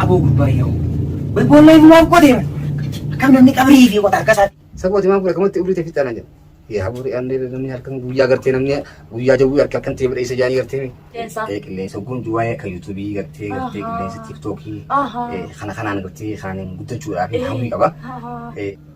Aboo gurbaa yaa'u. Wai boollaa inni maaf qotee bara. Akkam namni qabrii fi qota harka isaatti. Sabooti maaf godha kamatti ubriite fixaa na jedha. Yaa burii aanne namni halkan guyyaa gartee namni guyyaa jawwii harka akkan ta'e badheessa jaanii gartee. Qeensaa. Eh, Qilleensa kun duwwaa akka yuutuubii gartee gartee Ahaa. qilleensa tiiktookii Ahaa. eh, kana kanaan gartee kaaniin guddachuudhaaf hawwii qaba. Ahaa. Eh,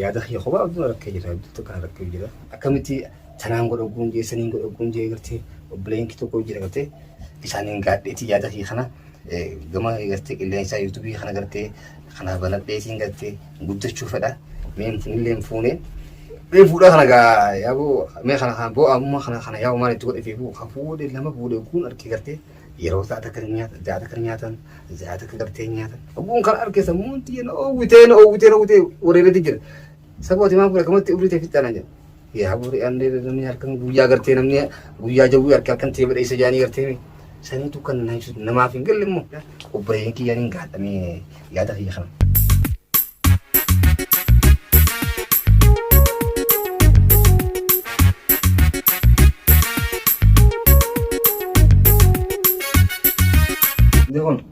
yaada kiyya kophaa abduu rakkee jira abduu tokko kan rakkee jira akkamitti tanaan godhogguun jee saniin godhogguun jee gartee obboleen kee tokko jira gartee isaaniin gaadheetii yaada kiyya kana Gama gartee qilleensaa yuutubii kana gartee kana banadheetiin gartee guddachuu fedha. Mee hin fuunillee hin fuune. Mee fuudhaa kana gaa yaaboo mee kana kana boo ammoo kana kana yaaboo maal itti godhe fi boo kan fuudhe lama fuudhe guun argee gartee yeroo isaa takka ni nyaatan ja'a takka ni nyaatan ja'a takka gartee ni nyaatan. Guun kana argee sammuun xiyya na oowwitee na oowwitee na oowwitee wareereetti jira. Sabooti maa fuudhe kamatti umrii ta'e fixxaana jira. Yaa bori allee namni halkan guyyaa gartee namni guyyaa jawwii harka halkan ta'ee badheessa jaanii gartee saniitu kan na ibsu namaaf hin galle immoo obboleeyyan kiyyaan hin gaadhamee yaada kiyya kana. Kun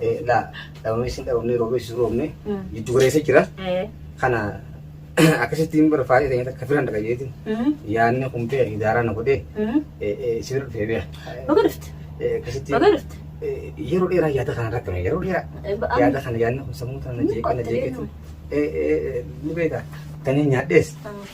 Eh, la dhabamessi dhabamne roobessi roobne Mm. jiddu galeessa jira Eh. kana akkasitti hin barfaadee ta'e akka filan dhaqa jeetiin Mhm. yaanni kumpee idaaraa na godhee Mhm. eh, eh, si bira dhufee beeka Baga dhufte. Eh, akkasitti Baga dhufte. eh, yeroo dheeraa yaada kana rakkame yeroo dheeraa Eh, ba- am- yaada kana yaadni kun sammuu tana Ni jeeqee na qotte jeeqeetu deemu. ni beeka tanii nyaadhees Mm.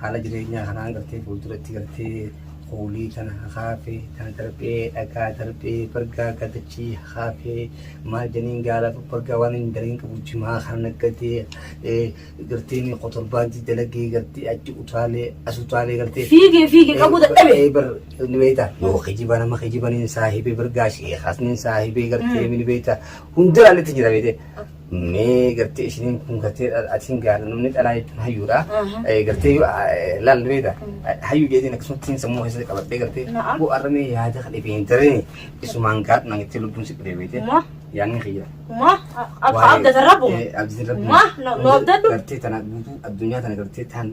Haala jireenyaa kanaan gartee fuulduratti gartee kuulii tana hakaafee tana darbee dhagaa darbee bargaa gadachii hakaafee maal janiin gaala bargaa waan hin dalagiin qabu jimaa kana naggadee gartee ni kotorbaantii dalagee gartee achi utaalee as utaalee gartee Fiigee fiigee qabuu dadhabe. Eh, bar ni beekta yoo kijiba nama kijibaniin saahibee bargaa sheekaasniin saahibee gartee ni beekta hundaraalletti jira beekte mee gartee isiniin kun gartee atiin gaana namni dhalaa jechuun hayyuudha. Aha. Eh, Gartee yoo eh, laalle beekta hayyuu jeetiin akkasumatti sammuu keessatti qabadhee gartee Na'am. boo arramee yaada kan dhibee hin tareen isumaan gaadhu naan itti lubbuun si dhibee beekte Ma. yaanni kiyya. Ma. Abba abdata rabbu. Eh, abdatin rabbu. Ma. No abdadhu. Gartee tana guutuu addunyaa tana gartee taan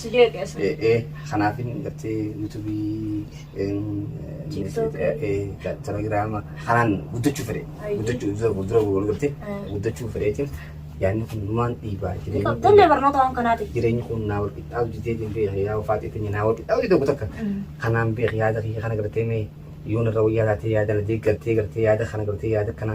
Si jeeqe as. Eh, eh, kanaafin gartee yuutuubii em, TikTok. eh, eh, ta- telegiraama kanaan guddachuu fedhe Ayyee. guddachuu dura dura wal gartee Eh. guddachuu fedheetiin yaadni kun numaan dhiibaa jireenyi kun- Tollee barnoota waan kanaati. jireenyi kun naa wal qixxaatu jitee hin beeku yaa ufaatee keenya naa wal qixxaatu jitee takka kanaan beeku yaada kiyya kana gartee mee yoon irra wayyaa taatee yaada na deeggartee gartee yaada kana gartee yaada kana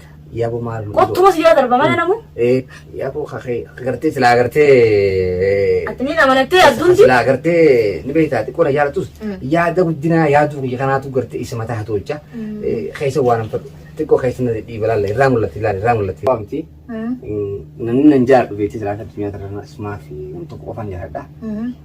Yabo maal nu Kottu mas yaa darba mana namu. Eh, yabo kakee agartee silaa agartee. Ati ni namanattee adduunti. Silaa agartee ni beektaa xiqqoo na jaalatus Mm. yaada guddinaa yaaduu kiyya kanaatu gartee isa mataa haa tolcha. Mm. Eh, Keessa waan hin fadhu xiqqoo keessa na dhiiba laalla irraa mul'atti laalla irraa mul'atti. Waa miti namni nan jaadhu beekti silaa addunyaa kanarra ismaa fi nam tokko qofaan jiraadha.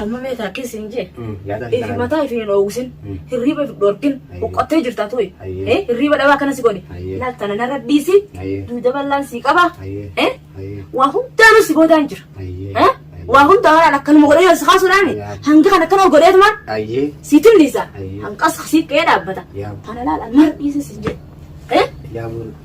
Amma mee taakkiin siin jee. Yaada Ifi garaa. mataa ifi hin oowwisin. Mm. Hirriiba ifi dhorkin. Ayyee. Boqqottee jirta tuyi. Ayyee. Eh, Hirriiba dhabaa akkana si godhe. Ayyee. Laal tana narra dhiisi. Ayyee. Duuda bal'aan sii qaba. Ayyee. Eh, Ayyee. Waa hundaanuu si boodaan jira. Ayyee. Eh, Waa hundaa waan akkanuma godhee si kaasuudhaani. Yaa. Hanga kan akkana godheetumaan Ayyee. sii tilliisa. Ayyee. Hanqas sii qe'ee dhaabbata. Yaa. Tana laal narra dhiisi siin jee. Eh, Yaa bulu.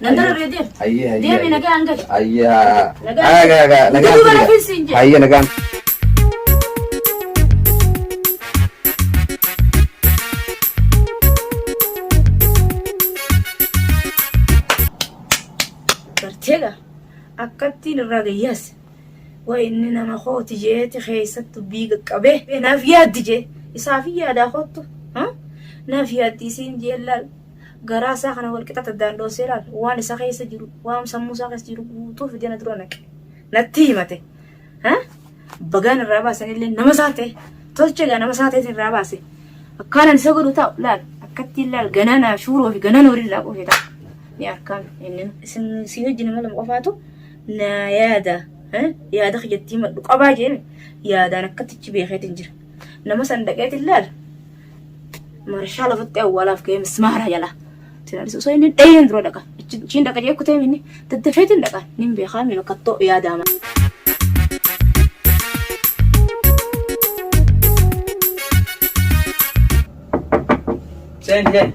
Nan darabee deem. Hayyee hayyee. Deemi nagaan gali. Hayyee haa. Nagaan. Haa gaa gaa nagaan. Utuu bara finsi hin jedhu. Hayyee nagaan. Barteega akkattiin irraa gayyaas. Waa inni nama kooti jeeti keessatti dubbii qaqqabee. Naaf yaaddi jee. Isaaf yaadaa koottu. Naaf yaaddi isiin jee laal. garaa isaa kana wal qixa taddaandoonsee ilaale. Waan isa keessa jiru, waan sammuu isaa keessa jiru guutuu fidee na dura naqe. Natti himate. Ha? Bagaan irraa baasan illee nama isaa ta'e. Tolcha egaa nama isaa ta'e irraa baase. Akkaanan isa godhu ta'u laal. Akkattiin laal ganaa naa shuuroo fi ganaa nooriin naa qofee ta'a. Ni harkaan inni isin si wajjin nama lama qofaatu na yaada. Ha? Yaada kiyyattii maddu qabaa jeen yaadaan akkatichi beekeetiin jira. Nama san dhaqeetiin laal. Marshaa lafatti awwaalaaf ga'ee mismaara jala. Tinaalis osoo inni dhayeen dura dhaqa. Achiin dhaqa jee kutee minni daddafeetiin dhaqa. Nin beekaa mi bakkattoo yaadaama. Seen seen.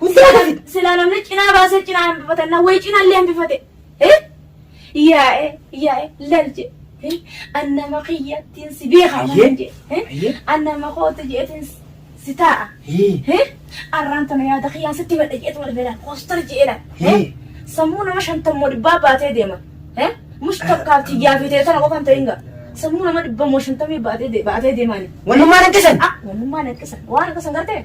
Hundi akkasitti silaa namni cinaa baasee cinaa hambifatan wayi cinaa illee hambifate. Yaa'e yaa'e lal je. Annama kiyyattiin si beekaa malee je. Annama kootu jeetiin si taa'a. Arraan tana yaada kiyyaan sitti madda jeetu wal beelaan koostar jeedha. Sammuu nama shantammoo dhibbaa baatee deema. Mush tokkaaf tiyyaa fi ta'e tana qofaan ta'in ga'a. Sammuu nama dhibba moo shantamii baatee deemaani. Wanummaan akkasan. Wanummaan akkasan. Waan akkasan gartee.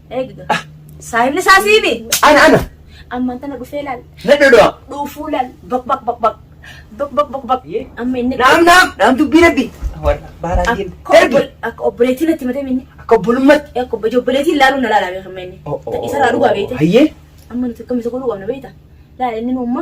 Eegda. Saahibni isaa siimi. Ana ana. Ammaan tana dhufee laal. Na dhudhaa. Dhuufuu laal. Baq baq baq baq. Baq baq baq baq. Amma inni. Naam naam. Naam dubbii rabbi. Warra baaraan deemu. Akka Darbi. obbo- akka obboleettiin natti matee minni. Akka obbolummatti. Akka obbo- obboleettiin laaluu na laalaa beekan minni. Isarraa dhugaa beekte. Hayyee. Amma nuti akkamitti godhuu qabna beekta? Laala inni nuumma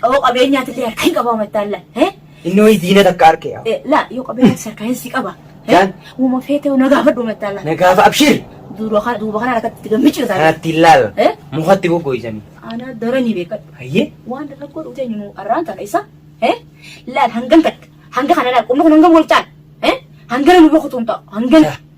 Qaboo qabeenyaa tillee harka hin qabaa mattaan la. Eh? Inni wayii diina takka harkee yaa. Eh, La yoo qabeenyaa si harkaa hin si qaba. Eh? Jaan. Uuma feetee na gaafadhu mattaan la. Na gaafa abshiir. Duuba kana duuba kana rakkatti gammichi taate. Kanatti ilaala. Eh? Mukatti goggoisanii. Ana daranii beekadhu. Hayyee. Waan rakkoo dhufte eenyu arraan kana isa. Eh? Laal hangan takka. Hanga kana laal qubni kun hangam wal caala. Eh? Hangana nu boqotuun ta'a. Hangana.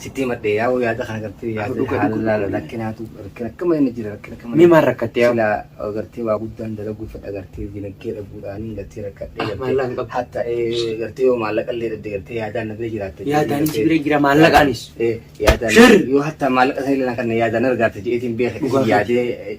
Sitti himadhe yaa'u yaada kana gartee yaada dhuga, dhuga, haala dhuga. rakkinaatu rakkina akkama inni jira rakkina akkama Mee maal rakkatte yaa? silaa gartee waa guddaan dalaguu fedha gartee dinagdee dhabuudhaanii gartee rakkadhee Ah, maallaqa hin qabdu. hatta ee, gartee yoo maallaqa illee dhabde gartee yaadaan na bira jiraatte Yaadaan si bira jira, maallaqaanis. Eh, yaadaan Shirri. yoo hatta maallaqa sana illee na kanne yaadaan argaate jedheetiin beeka Dhugaa isin yaadee eh,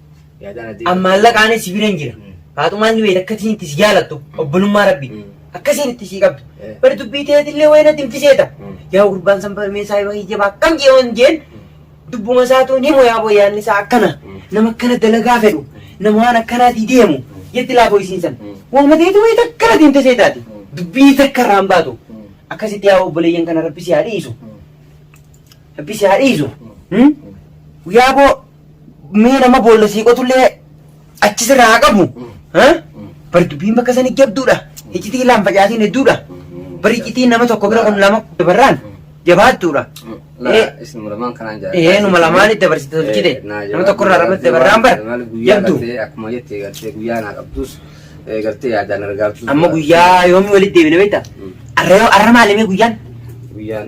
An maallaqaanis si biran jira. Faaxumaan ni beekta akka isiin itti si jaalattu obbolummaa rabbi. Akka isiin itti sii qabdu. Bari dubbii teetillee wayii natti hin fiseeta. Yaa gurbaan san barmee isaa yoo hiyyaba akkam jee waan jeen dubbuma isaatu ni moyaa boyaan isaa akkana nama akkana dalagaa fedhu nama waan akkanaatii deemu jetti laafoo isiin san. Waama teeti wayii takka natti hin fiseetaati. Dubbii takka irraa hin baatu. Akkasitti yaa obboleeyyan kana rabbi si haa dhiisu. Rabbi si haa dhiisu. Guyyaa boo mee nama boolla sii qotullee achi sirraa haa qabu. ha? Bari dubbiin bakka sanii jabduudha. Iccitii laan facaatiin hedduudha. Bari iccitiin nama tokko bira kun lama dabarraan jabaattuudha. Eh, Isinuma lamaan kanaan jaalladha. Ee numa lamaan itti dabarsite tolchite. Eh, naa Nama tokko irraa jabaadhu. ramadde barraan bara. Maal guyyaa Jabdu. gartee akkuma jette gartee guyyaa naa qabdus eh, gartee yaadaan argaatu. Amma guyyaa yoomii walitti deebine beektaa? Mm. Arra yoo arra maalimee guyyaan? Guyyaan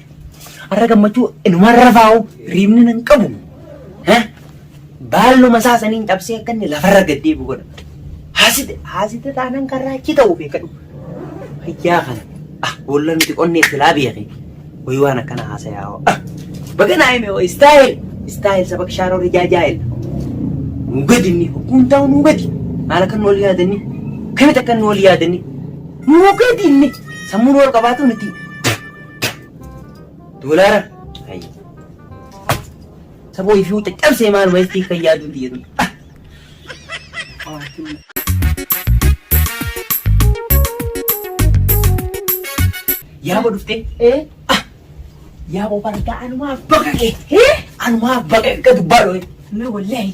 Arra gammachuu inumaan rafaa'u riibni nan qabu. Baalluma isaa saniin cabsee akka inni lafarra gad deebi'u godha. Haasite haasite taanaan karraa achi ta'u beekadhu. Fayyaa kana ah boolla nuti qonnee silaa beekee wayi waan akkana haasayaa hoo. Baga naa hime hoo istaayil istaayil saba kishaaroo rijaajaayil. Nuu gadi inni hukkuun taa'u nuu gadi. Maal akka nu wal yaadanni kamitti akka nu wal yaadanni nuu gadi inni sammuun wal qabaatu nuti Doolaara. Hayya. Saboo ifii wanta cabsee maal wayittii kan yaaduu biyya tun. Yaaba dhuftee. Ee. Yaaba bargaa anumaa baqa kee. Anumaa baqa akka dubbaa dhooye. Mee wallahi.